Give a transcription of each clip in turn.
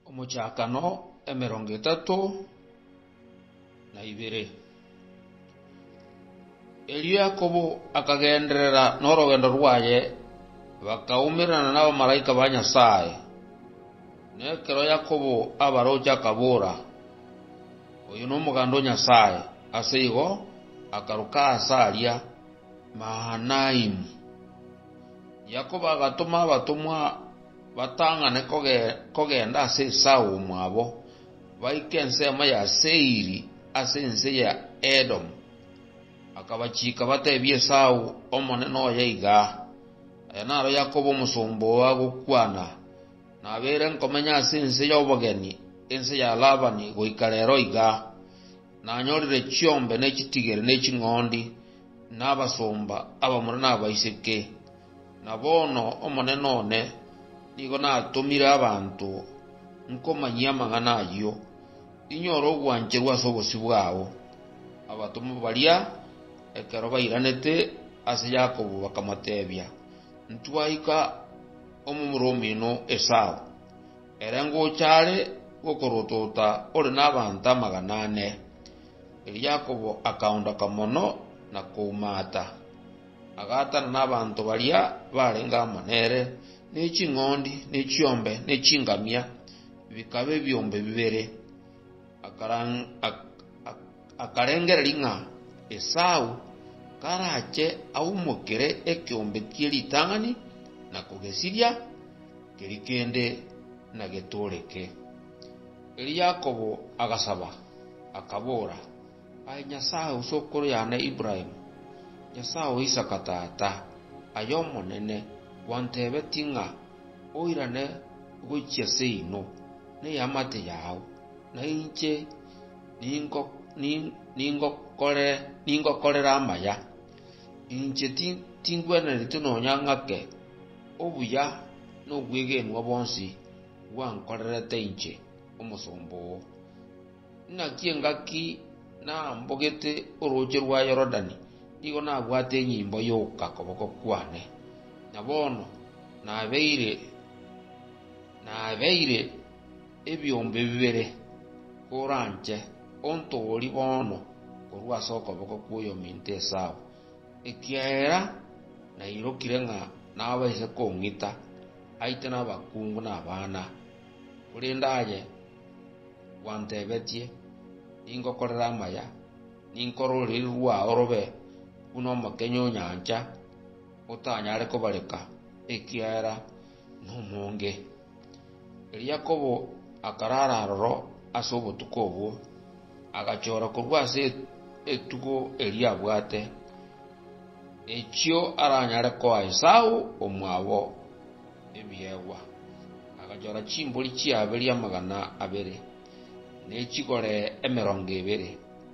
Omochakano emerongo etato na ibere. Erio Yakobo akagenderera norogendo rwaye, bakaumerana nabamalaika ba Nyasae. Na ekero Yakobo abaroche akabora, Oyo nomoganda o Nyasae, ase igo akaruka aase aria Mahanaimu. Yakobo agatoma abatomwa batang'ane kogenda ase Esau omwabo, baike ensemo ya Seiri ase ense ya Edomu. Akabachiika batebie Esau, Omonene oye iga aa, Aya naro Yakobo omosomba oo agokwana, Nabeire nkomenya ase ense y'obogeni, ense ya Labani goika rero iga, nanyorire chiombe ne chitigiri ne ching'ondi, nabasomba abamura nabaiseke, na bono omonene one nigo natomire abanto nkomanyie amang'ana ayio, inyore ogwancherwa ase obosio bwao. Abatomwa baria ekero bairanete ase Yakobo bakamotebia, Ntwaika omomura omino Esau, ere ngocha are gokorotoota ore nabaanto amagana ane. Erio Yakobo akaondoka mono na koumaata, agaatana nabaanto baria baarenge amo nere, ne ching'ondi, ne chiombe, ne chingamia, bikaba ebiombe bibere. Akarengereria ng'a Esau karache aumokere ekeombe kie ritang'ani na kogesiria, keria kende nagetoreke. Erio Yakobo agasaba, akabora, Aye Nyasae o sokoro yane Ibrahimu, Nyasae o Isaka tata, aye Omonene, gwantebetie ng'a oirane gochia seino ney'amate yao, na inche ningokorere amaya. Inche tingwenereti nonya ng'ake obuya nobwegenwa bonsi. gwankorerete inche, omosomba oo? Naki engaki nambogete orooche rwa Yorodani, nigo nabwate enyimbo y'ogoka koboko kwane, na bono nabeire ebiombe bibere koranche, ontoorie bono korwa ase okoboko kw'oyominto Esau, ekiagera nairokire ng'a nabaise kong'ita. aite nabakungu na abana, korende aye gwantebetie, Ningokorera amaya, ninkore oruriri rwao robe buna omokenye o nyancha, otanyare kobareka, ekiagera nomonge. Erio Yakobo akarara aroro ase obotuko obwo, agachora korwa ase etugo eria abwate. Echio aranyare koa Esau, omwabo, ebiegwa, agachora chimbori chi'aberia amagana abere, ne chigore emerongo ebere,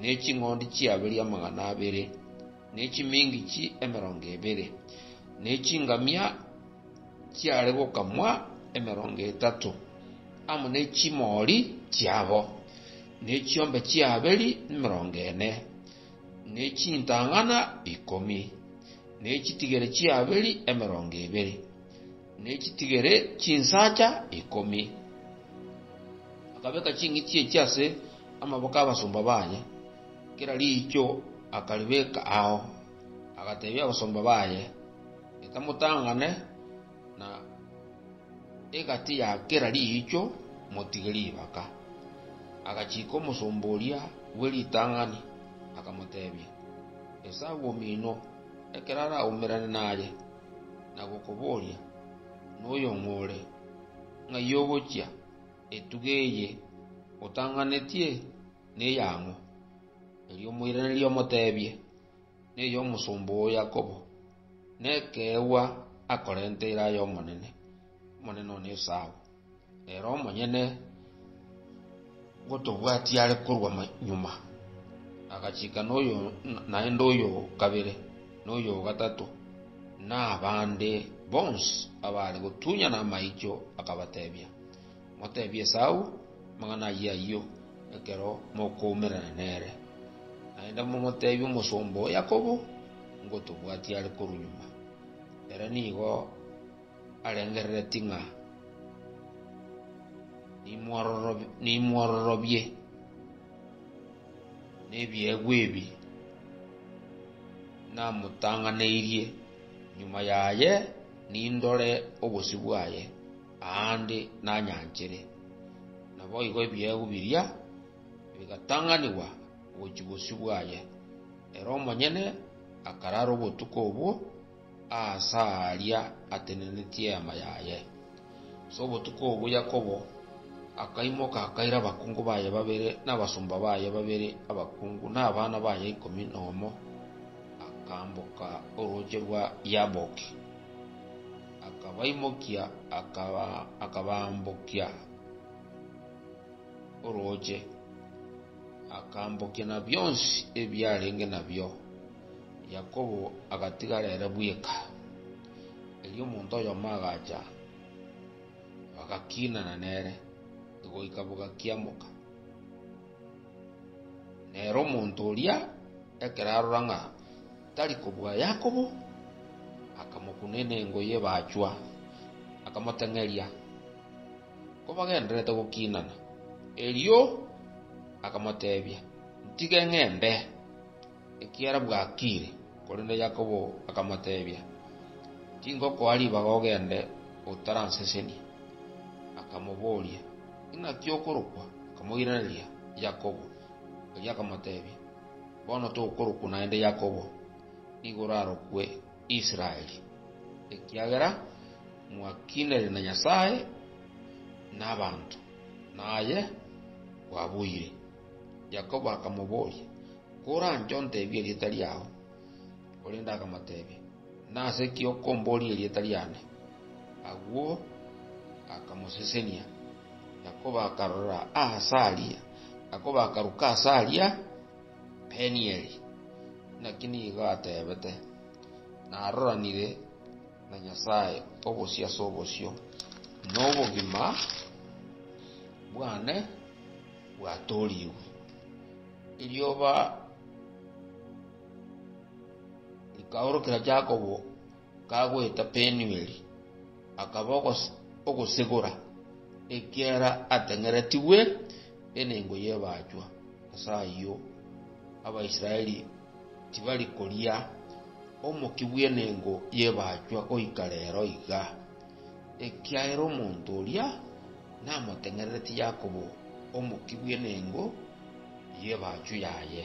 ne ching'ondi chi'aberia amagana abere, ne chimingichi emerongo ebere, ne chingamia chiare gokamwa emerongo etato, amo ne chimoori chiabo, ne chiombe chi'aberia emerongo ene. ne chintang'ana ikomi, ne chitigere chi'aberi emerongo ebere, ne chitigere chinsacha ikomi. Akabeka ching'iti echi ase amaboko 'abasomba baye, kera riicho akaribeka ao, agateebia abasomba baye, Etamotang'ane. na egati ya kera riicho motige ribaka. Agachiika omosomba oria bwe ritang'ani, akamoteebia, Esao omino, ekero araumerane naye, na gokobooria, Noyo ng'o ore? Ng'ai ogochia? Etuga eye otang'anetie neyang'o? Erio omoiranerie omoteebie. ney'omosomba o Yakobo, nekeegwa akorente ira y'Omonene, Omonene one esaabo, ere omonyene gotobwatia are korwa nyuma. Agachika noyo naende oyo kabere, noyo gatato, na abande bonsi abaare gotunyana amaicho akabatebia, Moteebie Esau amang'ana ayio ayio ekero mokoumerana nere, naende momoteebie omosomba o Yakobo, ngotobwatia are korwa nyuma. Ere nigo arengereretie ng'a nimwororobie nebiegwa ebi namotang'aneirie, nyuma yaye nindore obosio bwaye. aande nanyanchere. Naboigo ebiegwa biria bigatang'anigwa gochia bosio bwaye. Ere omonyene akarara obotuko obwo aase aaria atenenetie eema yaye. Ase obotuko obwo Yakobo akaimoka akaira abakungu baye babere nabasomba baye babere abakungu na abana baye ikomi nomo, akamboka orooche rwa Yaboki. akabaimokia, akabaambokia orooche, akaambokia na bionsi ebiarenge nabio. Yakobo agatigara ere bweka. Erio omonto oyomo agacha, bagakinana nere goika bogakiamoka. Nere omonto oria ekero arora ng'a. Tari kobua Yakobo, akamokune nengo y'ebachwa, akamoteng'eria, kobagendererete gokinana. Erio akamotebia, Ntige ng'ende, ekiagera bwakiire. Korende Yakobo akamotebia, Tingokoa ribaga ogende otaransesenia. Akamoboria, Inaki okorokwa? Akamoiraneria, Yakobo. Erio akamotebia, Bono tokorokwa naende Yakobo, nigo orarokwe Israeli, ekiagera mwakinire na Nyasae na abanto, na aye bwaboire. Yakobo akamoboria, Koranche ontebie erieta riao? Korende akamoteebia, “Nase ki okombooria erieta riane?” Agwo akamosesenia, na koba akarora aase aria, na koba akaruka aase aria Penieli. Naki nigo ateebete, Naroranire na Nyasae obosio ase obosio, na obogima bwane bwatoorigwe. Erioba ri'omochie oria riabeire, Rikaorokera Yakobo kagoeta Penueli, akaba ogosegora, ekiagera ateng'eretigwe enengo y'ebaachwa. Ase ayio Abaisraeli tibari koria omokia bw'enengo y'ebaachwa goika reero iga, ekiagera omonto oria namoteng'ereretie Yakobo omokia bw'enengo y'ebaachwa yaye.